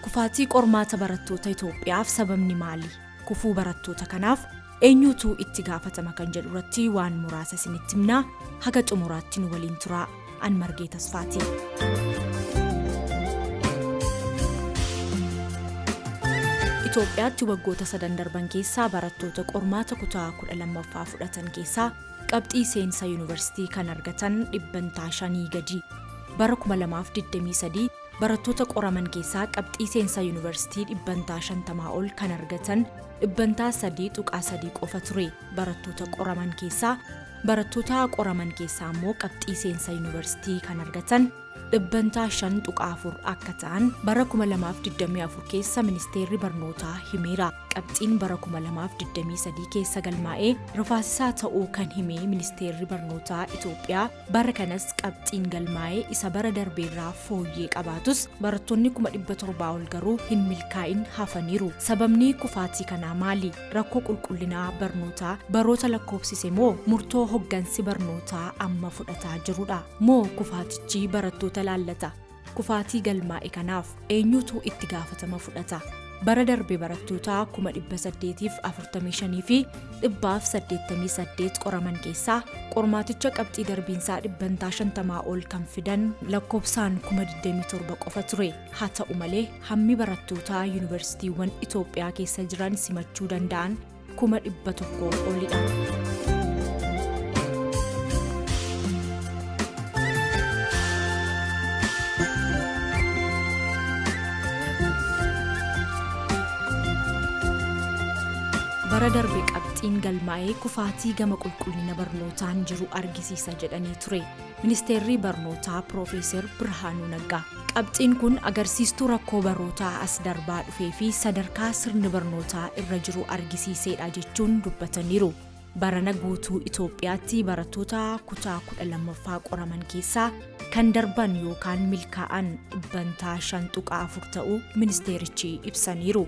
Kufaatii qormaata barattoota Itoophiyaaf sababni maali? Kufuu barattoota kanaaf eenyuutu itti gaafatama kan jedhu irratti waan muraasa isinitti himnaa haga xumuraatti nu waliin turaa. an margee tasfaati. Itoophiyaatti waggoota sadan darban keessaa barattoota qormaata kutaa 12ffaa fudhatan keessaa qabxii seensa yuunivarsiitii kan argatan dhibbantaa shanii gadi. Bara 2023 barattoota qoraman keessaa qabxii seensa yuunivarsiitii dhibbantaa 50 ol kan argatan dhibbantaa 3.3 qofa ture. barattoota qoraman keessaa barattoota qoraman keessaa immoo qabxii seensa yuunivarsiitii kan argatan dhibbantaa 5.4 akka ta'an bara 2024 keessa ministeerri barnootaa himeera qabxiin bara 2023 keessa galmaa'ee rifaasisaa ta'uu kan hime ministeerri barnootaa Itoophiyaa bara kanas qabxiin galmaa'ee isa bara darbeerraa fooyyee qabaatus barattoonni 700 ol garuu hin milkaa'in hafaniiru sababni kufaatii kanaa maali rakkoo qulqullinaa barnootaa baroota lakkoofsise moo murtoo hoggansi barnootaa amma fudhataa jirudha moo kufaatichi barattoota laallata kufaatii galmaa'e kanaaf eenyutu itti gaafatama fudhata bara darbe barattoota 845 fi 188 qoraman keessaa qormaaticha qabxii darbiinsaa dhibbantaa 50 ol kan fidan lakkoofsaan 27 qofa ture haa ta'u malee hammi barattootaa yuunivarsiitiiwwan Itoophiyaa keessa jiran simachuu danda'an kuma dhibba tokkoo olidha. bara darbe qabxiin galmaa'ee kufaatii gama qulqullina barnootaan jiru argisiisa jedhanii ture. Ministeerrii Barnootaa Piroofeeser Birhaanuu Naggaa qabxiin kun agarsiistuu rakkoo barootaa as darbaa dhufee fi sadarkaa sirni barnootaa irra jiru argisiiseedha jechuun dubbataniiru. Barana guutuu Itoophiyaatti barattoota kutaa 12ffaa qoraman keessaa kan darban yookaan milkaa'an dhibbantaa 5.4 ta'uu ministeerichi ibsaniiru.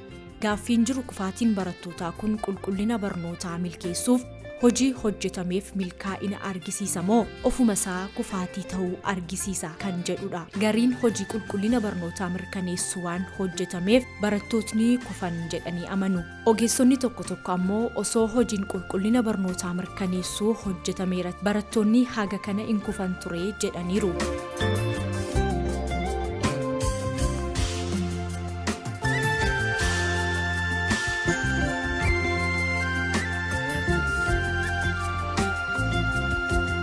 Gaaffiin jiru kufaatiin barattootaa kun qulqullina barnootaa milkeessuuf hojii hojjetameef milkaa'ina argisiisa moo ofuma isaa kufaatii ta'uu argisiisa kan jedhudha. Gariin hojii qulqullina barnootaa mirkaneessu waan hojjetameef barattootni kufan jedhanii amanu. Ogeessonni tokko tokko ammoo osoo hojiin qulqullina barnootaa mirkaneessuu hojjetameera barattoonni haga kana hin kufan ture jedhaniiru.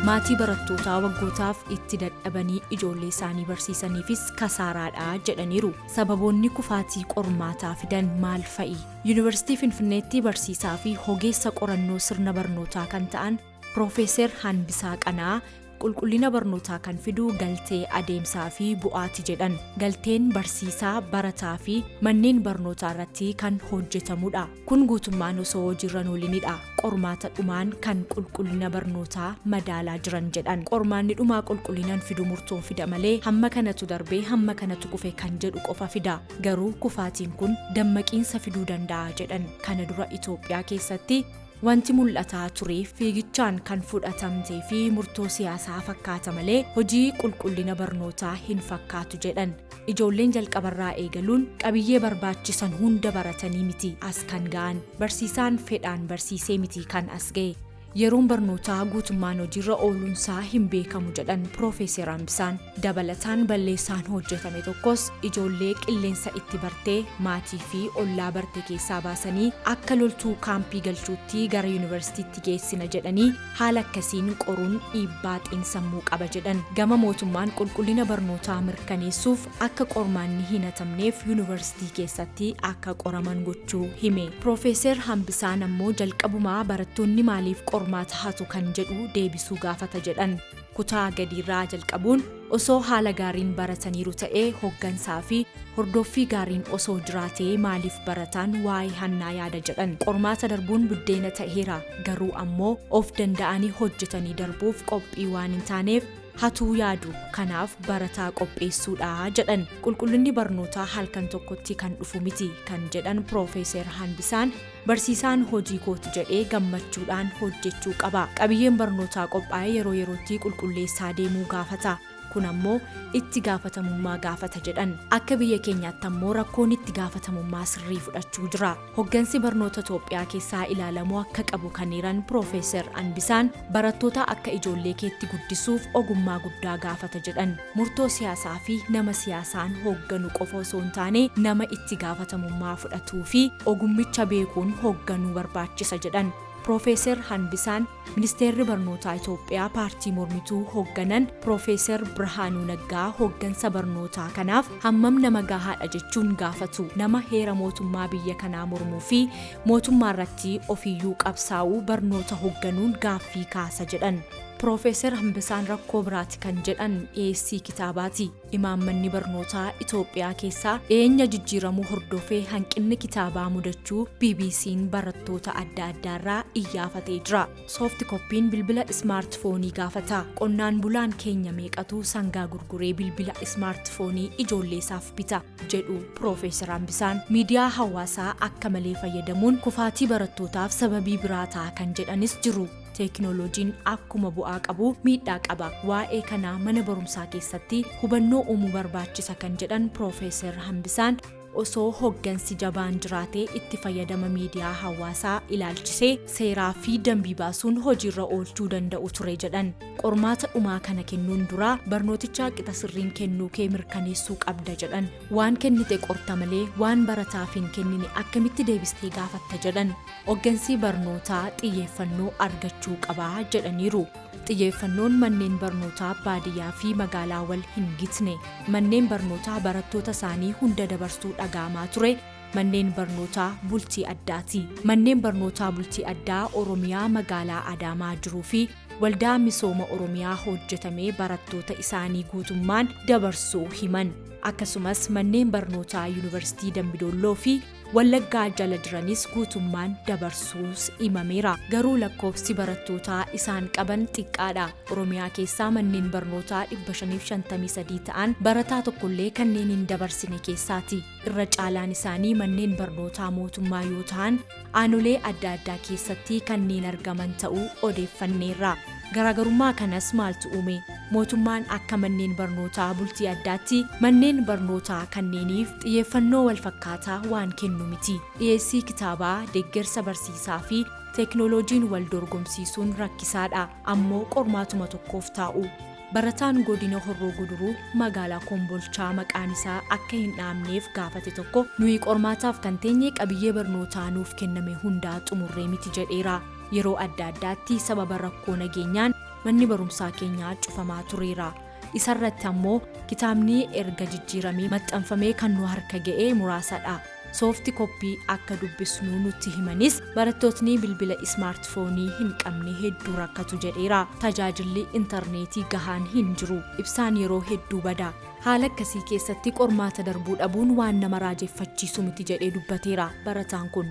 maatii barattootaa waggootaaf itti dadhabanii ijoollee isaanii barsiisaniifis kasaaraadha jedhaniiru sababoonni kufaatii qormaataa fidan maal fa'i yuunivarsiitii finfinneetti barsiisaa fi hogeessa qorannoo sirna barnootaa kan ta'an Piroofeeser Hanbisaa Qanaa qulqullina barnootaa kan fidu galtee adeemsaa fi bu'aati jedhan. Galteen barsiisaa, barataa fi manneen barnootaa irratti kan hojjetamudha. Kun guutummaan osoo hojiirra hin oolinidha. Qormaata dhumaan kan qulqullina barnootaa madaalaa jiran jedhan. Qormaanni dhumaa qulqullinan fidu murtoon fida malee hamma kanatu darbee hamma kanatu kufe kan jedhu qofa fida. Garuu kufaatiin kun dammaqiinsa fiduu danda'a jedhan. Kana dura Itoophiyaa keessatti Wanti mul'ataa ture fiigichaan kan fudhatamtee fi murtoo siyaasaa fakkaata malee hojii qulqullina barnootaa hin fakkaatu jedhan. Ijoolleen jalqabarraa eegaluun qabiyyee barbaachisan hunda baratanii miti as kan ga'an. Barsiisaan fedhaan barsiisee miti kan as ga'e. Yeroon barnootaa guutummaan hojiirra ooluunsaa hin beekamu jedhan Piroofeeser Ambisaan. Dabalataan balleessaan hojjetame tokkos ijoollee qilleensa itti barte, maatii fi ollaa barte keessaa baasanii akka loltuu kaampii galchuutti gara yunivarsiitiitti geessina jedhanii haala akkasiin qoruun dhiibbaa xiinsammuu qaba jedhan. Gama mootummaan qulqullina barnootaa mirkaneessuuf akka qormaanni hin hatamneef yunivarsiitii keessatti akka qoraman gochuu hime. Piroofeeser Hambisaan ammoo jalqabumaa barattoonni maaliif qormaata hatu kan jedhu deebisuu gaafata jedhan. Kutaa gadiirraa jalqabuun osoo haala gaariin barataniiru ta'ee hoggansaa fi hordoffii gaariin osoo jiraatee maaliif barataan waa'ee hannaa yaada jedhan qormaata darbuun buddeena ta'eera garuu ammoo of danda'anii hojjetanii darbuuf qophii waan hin taaneef hatuu yaadu kanaaf barataa qopheessuudha jedhan qulqullinni barnootaa halkan tokkotti kan dhufu miti kan jedhan piroofeeser Hanbisaan Barsiisaan hojii kooti jedhee gammachuudhaan hojjechuu qaba. Qabiyyeen barnootaa qophaa'e yeroo yerootti qulqulleessaa deemuu gaafata. Kun ammoo itti gaafatamummaa gaafata jedhan. Akka biyya keenyaatti ammoo rakkoon itti gaafatamummaa sirrii fudhachuu jira. Hoggansi barnoota Itoophiyaa keessaa ilaalamuu akka qabu kan hiran Piroofeesar Anbisaan barattoota akka ijoollee keetti guddisuuf ogummaa guddaa gaafata jedhan. Murtoo siyaasaa fi nama siyaasaan hoogganu qofa osoo hin taane nama itti gaafatamummaa fudhatuu fi ogummicha beekuun hoogganuu barbaachisa jedhan. Piroofeeser Hanbisaan Ministeerri Barnootaa Itoophiyaa paartii mormituu hoogganan Piroofeeser Birhaanuu Naggaa hooggansa barnootaa kanaaf hammam nama gahaadha jechuun gaafatu. Nama heera mootummaa biyya kanaa mormuu fi mootummaa irratti ofiyyuu qabsaa'uu barnoota hoogganuun gaaffii kaasa jedhan. Piroofeesar Hambisaan rakkoo biraati kan jedhan dhiyeessii kitaabaati. Imaammanni barnootaa Itoophiyaa keessaa dhiyeenya jijjiiramuu hordofee hanqinni kitaabaa mudachuu BBC'n barattoota adda addaarraa iyyaafatee jira. Soofti koppiin bilbila ismaartifoonii gaafata. Qonnaan bulaan keenya meeqatu sangaa gurguree bilbila ismaartifoonii ijoolleesaaf bita jedhu Piroofeesar Hambisaan. Miidiyaa hawaasaa akka malee fayyadamuun kufaatii barattootaaf sababii biraa ta'a kan jedhanis jiru. Teekinooloojiin akkuma bu'aa qabu miidhaa qaba. Waa'ee kanaa mana barumsaa keessatti hubannoo uumuu barbaachisa kan jedhan Piroofeesar Hambisaan osoo hoggansi jabaan jiraatee itti fayyadama miidiyaa hawaasaa ilaalchisee seeraa fi dambii baasuun hojiirra oolchuu danda'u ture jedhan. Qormaata dhumaa kana kennuun dura barnootichaa qixa sirriin kennuu kee mirkaneessuu qabda jedhan. Waan kennite qorta malee waan barataaf hin kennine akkamitti deebistee gaafatta jedhan. Oggansii barnootaa xiyyeeffannoo argachuu qaba jedhaniiru. Xiyyeeffannoon manneen barnootaa baadiyyaa fi magaalaa wal hin gitne. Manneen barnootaa barattoota isaanii hunda dabarsuu dhaga'amaa ture. Manneen barnootaa bultii addaati. Manneen barnootaa bultii addaa Oromiyaa magaalaa Adaamaa jiruu fi waldaa misooma Oromiyaa hojjetamee barattoota isaanii guutummaan dabarsuu himan. Akkasumas manneen barnootaa Yuunivarsiitii Dambidolloo fi Wallaggaa jala jiranis guutummaan dabarsuus himameera. Garuu lakkoofsi barattootaa isaan qaban xiqqaadha. Oromiyaa keessaa manneen barnootaa 553 ta'an barataa tokkollee kanneen hin dabarsine keessaati. Irra caalaan isaanii manneen barnootaa mootummaa yoo ta'an aanolee adda addaa keessatti kanneen argaman ta'uu odeeffanneerra. Garaagarummaa kanas maaltu uume? Mootummaan akka manneen barnootaa bultii addaatti manneen barnootaa kanneeniif xiyyeeffannoo walfakkaataa waan kennu miti. Dhiyeessii kitaabaa, deggersa barsiisaa fi teeknooloojiin wal dorgomsiisuun rakkisaadha. Ammoo qormaatuma tokkoof taa'u. Barataan Godina Horroo Guduruu magaalaa Kombolchaa maqaan isaa akka hin dhahamneef gaafate tokko nuyi qormaataaf kan teenye qabiyyee barnootaa nuuf kenname hundaa xumurree miti jedheera. Yeroo adda addaatti sababa rakkoo nageenyaan manni barumsaa keenyaa cufamaa tureera. Isarratti ammoo kitaabni erga jijjiiramee maxxanfamee kan nu harka ga'ee muraasadha. Soofti koppii akka dubbisnu nutti himanis barattootni bilbila ismaartifoonii hin qabne hedduu rakkatu jedheera. Tajaajilli intarneetii gahaan hin jiru. Ibsaan yeroo hedduu bada. Haala akkasii keessatti qormaata darbuu dhabuun waan nama raajeffachiisu miti jedhee dubbateera barataan kun.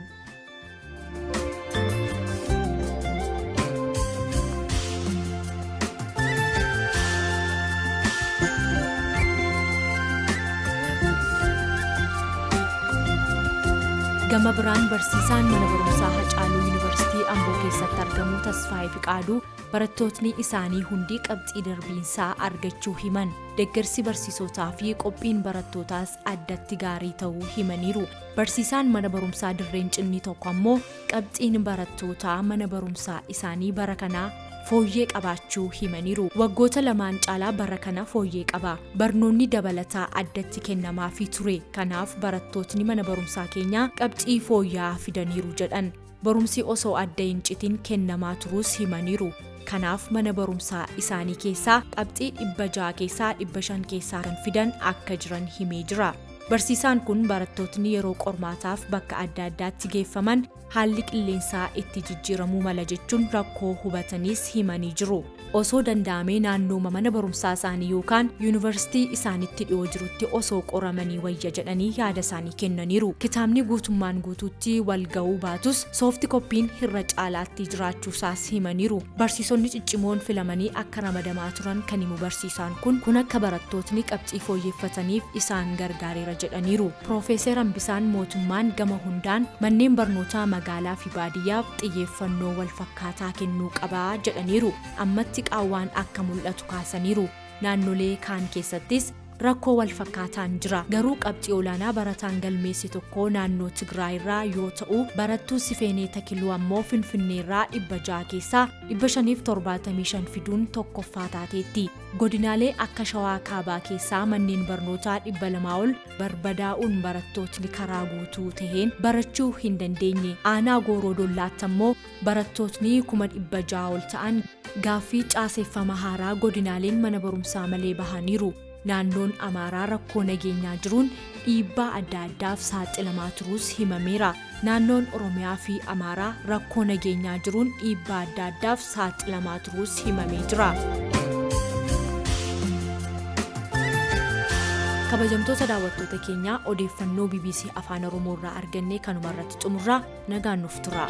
gama biraan barsiisaan mana barumsaa hacaaluu yuunivarsiitii amboo keessatti argamu tasfaayee fiqaaduu barattootni isaanii hundi qabxii darbiinsaa argachuu himan deeggarsi barsiisotaa fi qophiin barattootaas addatti gaarii ta'uu himaniiru. Barsiisaan mana barumsaa dirreen cinnii tokko ammoo qabxiin barattootaa mana barumsaa isaanii bara kanaa fooyyee qabaachuu himaniiru. Waggoota lamaan caalaa bara kana fooyyee qaba. Barnoonni dabalataa addatti kennamaafii ture. Kanaaf barattootni mana barumsaa keenyaa qabxii fooyya'aa fidaniiru jedhan. Barumsi osoo adda hin citin kennamaa turuus himaniiru. Kanaaf mana barumsaa isaanii keessaa qabxii 600 keessaa 500 keessaa kan fidan akka jiran himee jira. Barsiisaan kun barattootni yeroo qormaataaf bakka adda addaatti geeffaman haalli qilleensaa itti jijjiiramuu mala jechuun rakkoo hubataniis himanii jiru. Osoo danda'amee naannooma mana barumsaa isaanii yookaan yuunivarsiitii isaanitti dhiyoo jirutti osoo qoramanii wayya jedhanii yaada isaanii kennaniiru. Kitaabni guutummaan guutuutti wal ga'uu baatus soofti koppiin hirra caalaatti jiraachuu isaas himaniiru. Barsiisonni ciccimoon filamanii akka ramadamaa turan kan himu barsiisaan kun, kun akka barattootni qabxii fooyyeffataniif isaan gargaareera jedhaniiru. Piroofeeser Hambisaan mootummaan gama hundaan manneen barnootaa magaalaa fi baadiyyaaf xiyyeeffannoo wal fakkaatu. akkaataa kennuu qaba jedhaniiru. Ammatti qaawwaan akka mul'atu kaasaniiru. Naannolee kaan keessattis rakkoo wal fakkaataan jira. Garuu qabxii olaanaa barataan galmeesse tokko naannoo Tigraay irraa yoo ta'u, barattuu Sifeenee Takiluu ammoo Finfinnee irraa 600 keessaa 575 fiduun tokkoffaa taateetti. Godinaalee akka Shawaa Kaabaa keessaa manneen barnootaa 200 ol barbadaa'uun barattootni karaa guutuu taheen barachuu hin dandeenye aanaa gooroo dollaatti ammoo barattootni kuma dhibba ja'a ol ta'an gaaffii caaseeffama haaraa godinaaleen mana barumsaa malee bahaniiru naannoon amaaraa rakkoo nageenyaa jiruun dhiibbaa adda addaaf saaxilamaa turuus himameera. Naannoon Oromiyaa fi Amaaraa rakkoo nageenyaa jiruun dhiibbaa adda addaaf saaxilamaa turuus himamee jira. Kabajamtoota daawwattoota keenyaa odeeffannoo BBC Afaan Oromoo irraa argannee kanuma irratti xumurraa nagaan nuuf turaa.